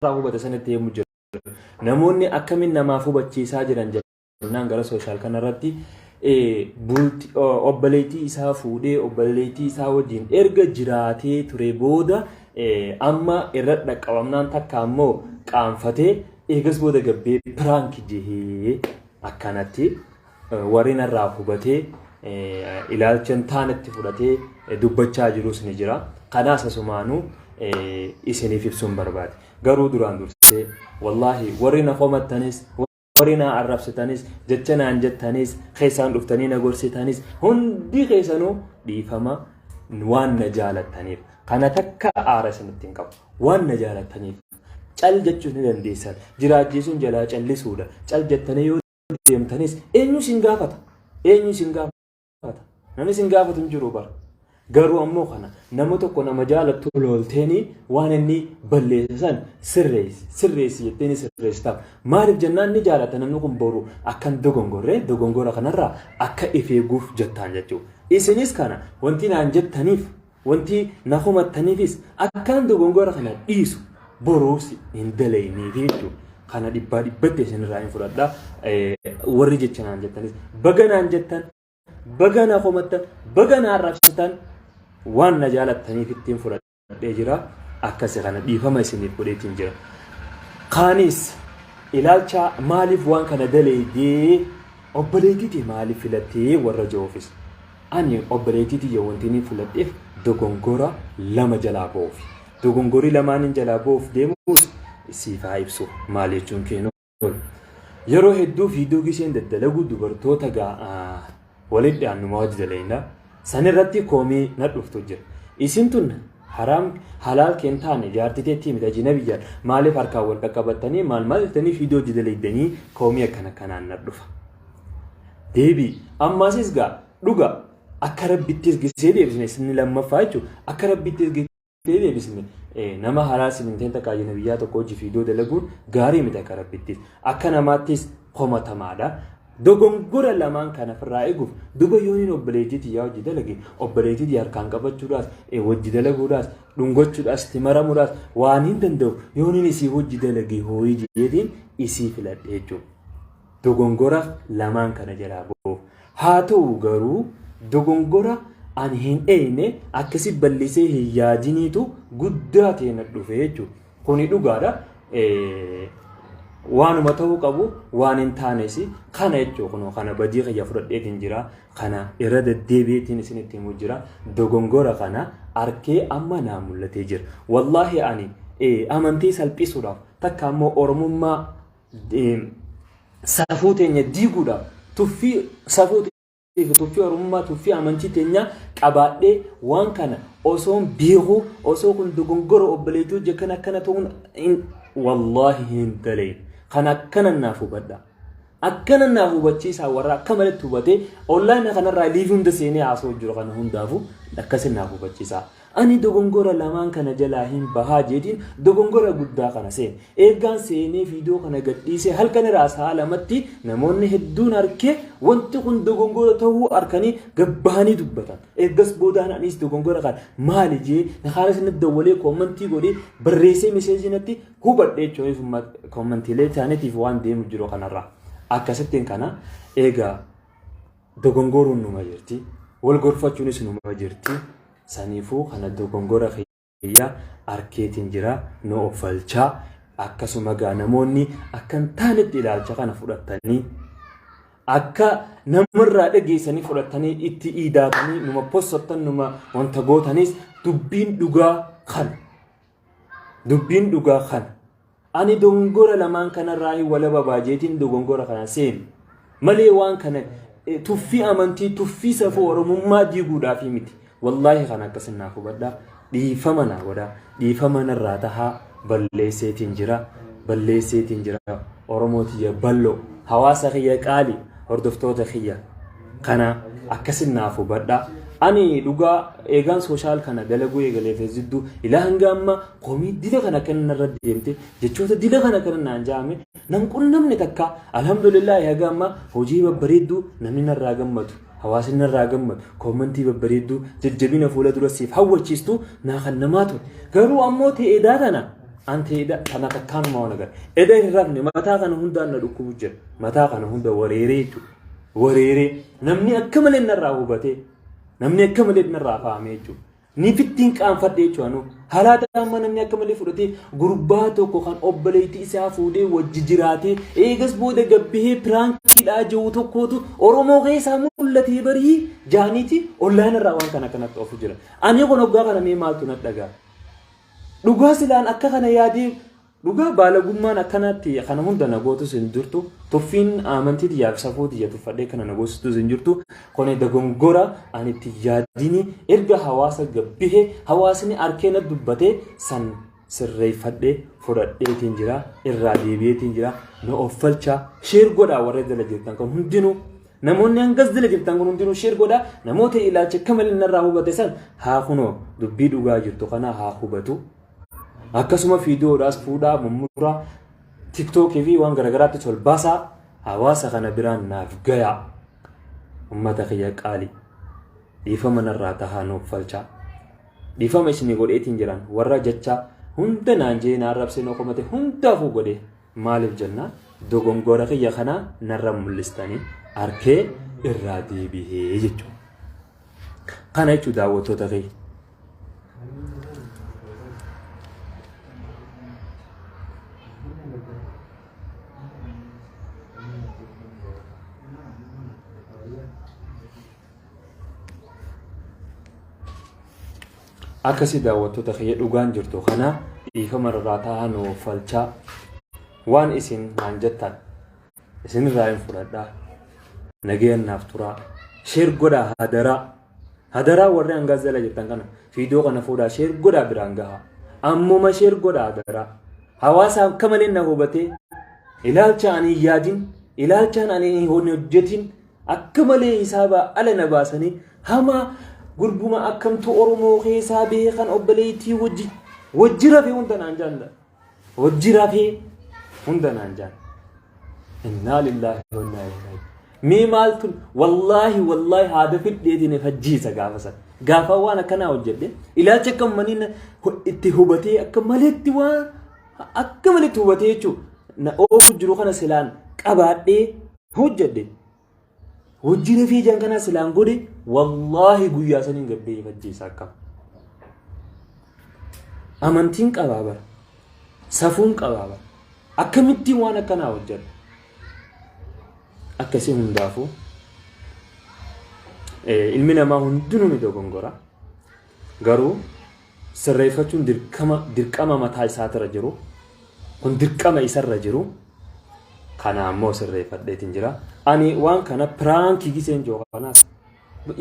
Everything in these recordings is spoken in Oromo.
irraa hubata sanitti deemu jira. Namoonni akkamiin namaaf hubachiisaa jiran jennaan gara sooshaal kanarratti bulti obboleettii isaa fuudhee obboleettii isaa wajjin erga jiraatee ture booda amma irra dhaqqabamnaan takka ammoo qaanfatee eegas booda gabbee piraanki jehee akkanatti Warri narraa hubatee ilaalcha hin taanetti fudhatee dubbachaa jirus ni jira. Kanaas asumaanuu isiniif ibsuun barbaade. Garuu duraan dursee wallaahi warri na komattanis warri na arrabsitanis jecha naan jettanis keessaan dhuftanii na gorsitanis hundi keessanuu dhiifama waan na jaalattaniif kana takka aara isinitti hin qabu waan na jaalattaniif cal jechuun ni dandeessan jiraachiisuun jalaa callisuudha cal jettanii yoo deemtanis eenyu isin gaafata? Eenyu isin gaafata? Namni isin gaafatu hin jiru bara. Garuu ammoo kana nama tokko nama jaalattu loolteeni waan inni balleesse san sirreessi sirreessi jetteeni sirreessitaaf. Maaliif jennaan inni jaalata namni kun boru akkan dogongorre dogongora kanarraa akka if eeguuf jettaan jechuudha. Isinis kana wanti naan jettaniif Wanti na komattaniifis akkaan dogongora kana dhiisu boruus hin dalayniifi jechuudha. Kana dhibbaa dhibbatti isinirraa hin fudhadha. Warri jecha naan jettanis baga naan jettan baga na komattan baga na arrabsitan waan na jaalattaniif ittiin fudhadhee jira. Akkasi kana dhiifama isiniif godheetiin jira. Kaanis ilaalcha maaliif waan kana daleeydee obboleettitee maaliif filattee warra ja'uufis. Ani obboleettii tiyya wanti inni fuladheef dogongora lama jalaa ba'uufi. Dogongorri lamaan inni jalaa ba'uuf deemus siif haa ibsu maal jechuun keenu. Yeroo hedduu fiiduu gisheen daddalagu dubartoota walitti dhiyaannuma wajji dalaynaa. San irratti koomii na dhuftu jira. Isin tun haraam halaal keen taane jaartii teettii miti ajina biyyaan maaliif harkaan wal qaqqabattanii maal maal jettanii fiidoo wajji dalaydanii koomii akkana kanaan na dhufa. Deebii. Ammaasis gaa dhuga akka rabbitti ergisee deebisne isinni lammaffaa jechuun akka rabbitti ergisee deebisne nama haraa siminteen takka ajina biyyaa tokko hojii fiidoo dalaguun gaarii miti akka rabbittis akka namaattis komatamaadha. Dogongora lamaan kana ofirraa eeguuf duba yooniin obboleettii tiyyaa hojii dalage obboleettii tiyya harkaan qabachuudhaas hojii dalaguudhaas dhungachuudhaas itti maramuudhaas waan hin danda'u yooniin isii hojii dalage hooyii jedheetiin isii filadhe jechuudha. dogongora lamaan kana jalaa ba'uuf. Haa ta'u garuu dogongora ani hin eeyne akkasi ballisee hin yaadiniitu guddaa ta'e na dhufe jechuudha. Kuni dhugaadha. Waanuma ta'uu qabu waan hin taanes kana jechuudha kunoo kana badii kiyya fudhadheetiin jira kana irra deddeebi'eetiin isinitti himuu jira dogongora kana arkee amma naa mul'atee jira. Wallaahi ani amantii salphisuudhaaf takka ammoo oromummaa safuu teenya diiguudhaaf tuffii safuu tuffii oromummaa tuffii amantii teenyaa qabaadhee waan kana osoon beekuu osoo kun dogongora obboleettii hojii akkana akkana ta'uun wallaahi hin dalee kan akkana naaf hubadha. Akkana naaf hubachiisaa warra akka malatti hubatee onlaayina kanarraa liivii hunda seenee haasoo jiru kana hundaafu akkasi naaf hubachiisaa. Ani dogongora lamaan kana jalaa hin bahaa jeetiin dogongora guddaa kana seene. Eegaan seenee viidiyoo kana gadhiisee halkan irraa sa'a lamatti namoonni hedduun arkee wanti kun dogongora ta'uu arkanii gad bahanii dubbatan. Eegas boodaan anis dogongora kana maali jee nakaanis natti dawwalee koommantii godhee barreessee meseejii natti hubadhe jechuun koommantiilee isaaniitiif waan deemu jiru kanarraa. Akkasittiin kana eegaa dogongoruun numa jirti wal gorfachuunis numa jirti saniifuu kana dogongora kiyya arkeetiin jira nu offalchaa akkasuma gaa namoonni akkan taanetti ilaalcha kana fudhattanii akka namarraa dhageessanii fudhattanii itti iidaatanii numa possattan numa wanta gootanis dubbiin dhugaa kana. Dubbiin dhugaa kana. Ani dogongora lamaan kanarraa hin walaba baajeetiin dogongora kana seenu. Malee waan kana eh, tuffii amantii, tuffii safuu Oromummaa diiguudhaaf miti. Wallaahi kana akkasin naaf hubadhaa. Dhiifama naa godhaa. Dhiifama narraa tahaa balleesseetiin jira. Balleesseetiin jira. Oromoo tiyya bal'oo. Hawaasa kiyya qaali. Hordoftoota kiyya. kana akkasin naaf hubadha ani dhugaa eegaan sooshaal kana dalaguu eegalee feesjiddu ilaa hanga amma komii dila kana kan narra deemte jechoota dila kana kan naan jaame nam qunnamne takka alhamdulillah haga amma hojii babbareedduu namni narraa gammadu hawaasni narraa gammadu koomantii babbareedduu jajjabina fuula dura siif hawwachiistu naa kan namaa ture garuu ammoo ta'eedaa tana an ta'eedaa tana takkaanuma waan agarra eda hin rafne mataa kana hundaan na dhukkubu jira mataa kana hunda wareeree jechuudha wareeree namni akka malee narraa hubatee namni akka malee narraa fahamee jechuudha. Ni fittiin qaanfadhe jechuudha nu. Halaata amma namni akka malee fudhatee gurbaa tokko kan obboleettii isaa fuudhee wajji jiraatee eegas booda gabbihee piraankiidhaa jiru tokkootu Oromoo keessaa mul'atee barii jaaniiti ollaan irraa waan kana kanatti ofu jira. Ani kun hoggaa kana mee maaltu na dhagaa? Dhugaa silaan akka kana yaadee Dhugaa baalagummaan akkanaatti kana hunda na gootus hin jirtu. Tuffiin amantii tiyyaa fi safuu tiyya tuffadhee kana na goositus hin jirtu. Kone dogongora ani itti yaadini erga hawaasa gabbihe hawaasni arkee na dubbate san sirreeffadhee fudhadheetiin jira irraa deebi'eetiin jira na offalchaa sheer godhaa warra jala jirtan kan hundinuu namoonni hangas jala jirtan kun hundinuu sheer godhaa namoota ilaacha akka malee narraa hubate san haa kunoo dubbii dhugaa jirtu kana haa hubatu Akkasuma fiidiyoodhaas fuudhaa mummuraa tiktookii fi waan garaagaraatti tolbaasaa hawaasa kana biraan naaf gayaa. Ummata kiyya qaali. Dhiifama narraa tahaa nuuf falchaa. Dhiifama isinii godheetiin jiran warra jecha hunda naan jee naan rabsee noo komate hundaafuu godhe maaliif jennaan dogongora kiyya kanaa narra mul'istanii arkee irraa deebihee jechuudha. Kana jechuun daawwattoota kee. Akkasii daawwattoota kee dhugaan jirtu kana dhiifama irraa taa'aa nuuf falchaa waan isin naan jettan. isinirraa hin fudhadhaa nagayaan naaf turaa sheer godhaa hadaraa hadaraa warri hangaas jala jirtan kana fiidiyoo kana fuudhaa sheer godhaa biraan gahaa ammuma sheer godhaa hadaraa hawaasa akka malee na hubatee ilaalcha ani hin yaadin ilaalchaan ani hin hojjetin akka malee hisaabaa ala na baasanii hamaa gurbuma akkamtu oromoo keessaa beekan obboleettii wajji wajji rafee hunda naan jaalla. Hojji rafee hunda naan jaan. Innaa lillaahi wa innaa ilaihi raaji'uun. Mee maaltu wallaahi wallaahi haada fiddeetiin if ajjeesa gaafa sana. Gaafa waan akkanaa hojjedhe ilaalcha akka ummanii na- hu- itti hubatee akka maleetti waan akka maleetti hubatee jechuudha. Na oofu jiru kana silaan qabaadhee hojjedhe. Hojii rafii ijaan kanaa silaan godhe wallaahi guyyaa saniin gabbee ifajjeessa akka. Amantiin qabaa bara. Safuun qabaa bara. Akkamittiin waan akkanaa hojjedha. Akkasii hundaafuu ilmi namaa hundinuu ni dogongora. Garuu sirreeffachuun dirqama dirqama mataa isaatirra jiru kun dirqama isarra jiru kana ammoo sirreeffadheetiin jira. Ani waan kana piraankii giseen jiru kanaas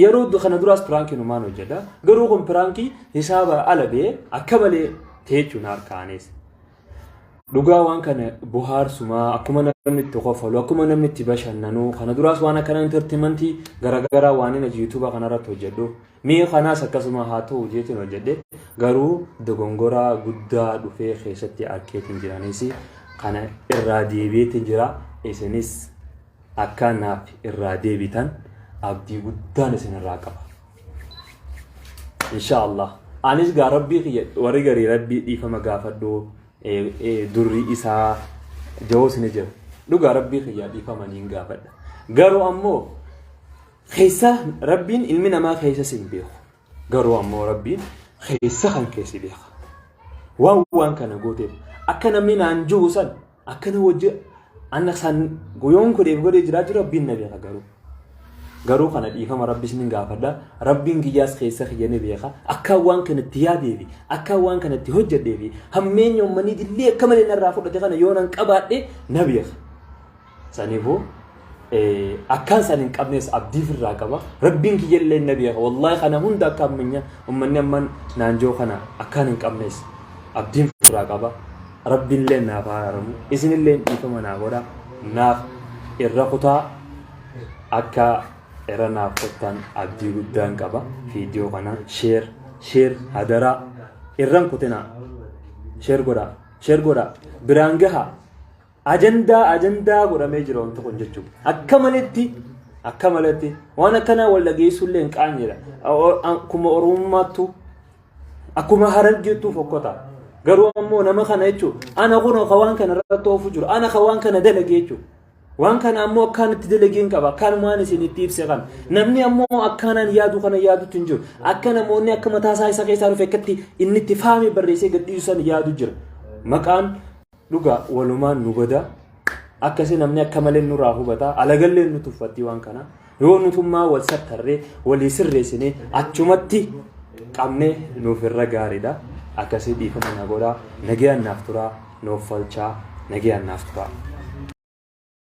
yeroo du- kana duraas piraankii numaan hojjedha. Garuu kun piraankii hisaaba ala bee akka malee teechuun harkaanis. Dhugaa waan kana bohaarsumaa akkuma namni itti kofolu akkuma namni itti bashannanu kana duraas waan akkana intartimantii garaagaraa waan inni yuutuuba kanarratti hojjedhu mee kanaas akkasuma haa ta'u jeetiin hojjedhe garuu dogongoraa guddaa dhufee keessatti arkeetiin jiranis kana irraa deebi'eetiin jira isinis akka naaf irraa deebitan abdii guddaan isin irraa qaba. insha allah anis gaa rabbii kiyya warri garii rabbii dhiifama gaafadhu eh, eh, durri isaa jahoos ni jira dhugaa rabbii kiyya dhiifama niin gaafadha garuu ammoo keessa rabbiin ilmi namaa keessa sin beeku garuu ammoo rabbiin keessa kan keessi beeka waan waan kana gooteef akka namni naan jiru san akkana wajji anna san guyoon godheef godhee jiraa jiru rabbiin na beeka garuu garuu kana dhiifama rabbi isinin gaafadha rabbiin kiyyaas keessa kiyya ni beeka akka waan kana itti yaadee fi akka waan kana itti hojjedhee fi hammeenya ummanii dillee akka malee narraa fudhate kana yoo nan qabaadhe na beeka saniifuu akkaan san hin qabnees abdii firraa qaba rabbiin kiyya illee na beeka wallaahi kana hunda akka ammanya ummanni amman naanjoo kana akkaan hin qabnees abdiin firraa qaba rabbiin illee naaf haa araaramu isin illee dhiifama naa godha naaf irra kutaa akka irra naaf kottan abdii guddaan qaba viidiyoo kana sheer sheer hadaraa irran kutinaa sheer godhaa sheer godhaa biraan gahaa Ajandaa ajandaa godhamee jira wanti kun jechuudha. Akka maletti akka maletti waan akkanaa wal dhageessuu illee hin qaanyeedha. Akkuma oromummaattu akkuma harargeettuu fokkota. Garuu ammoo nama kana jechuudha. Ana kun akka waan kana irratti oofu jiru. Ana akka waan kana dalagee jechuudha. Waan kana ammoo akkaan itti dalageen qaba. Akkaan waan isin itti ibse kana. Namni ammoo akkaanaan yaadu kana yaadutti hin jiru. Akka namoonni akka mataa isaa isa keessaa dhufe akkatti inni itti faame barreessee gadhiisu san yaadu jira. Maqaan Dhugaa walumaan nu bada akkasi namni akka malee nurraa hubata alagallee nu tuffattii waan kana yoo nutummaa wal sattarree walii sirreessinee achumatti qabnee nuuf irra gaariidha akkasii dhiifama na godhaa nagayaan naaf turaa nuuf falchaa nagayaan naaf turaa.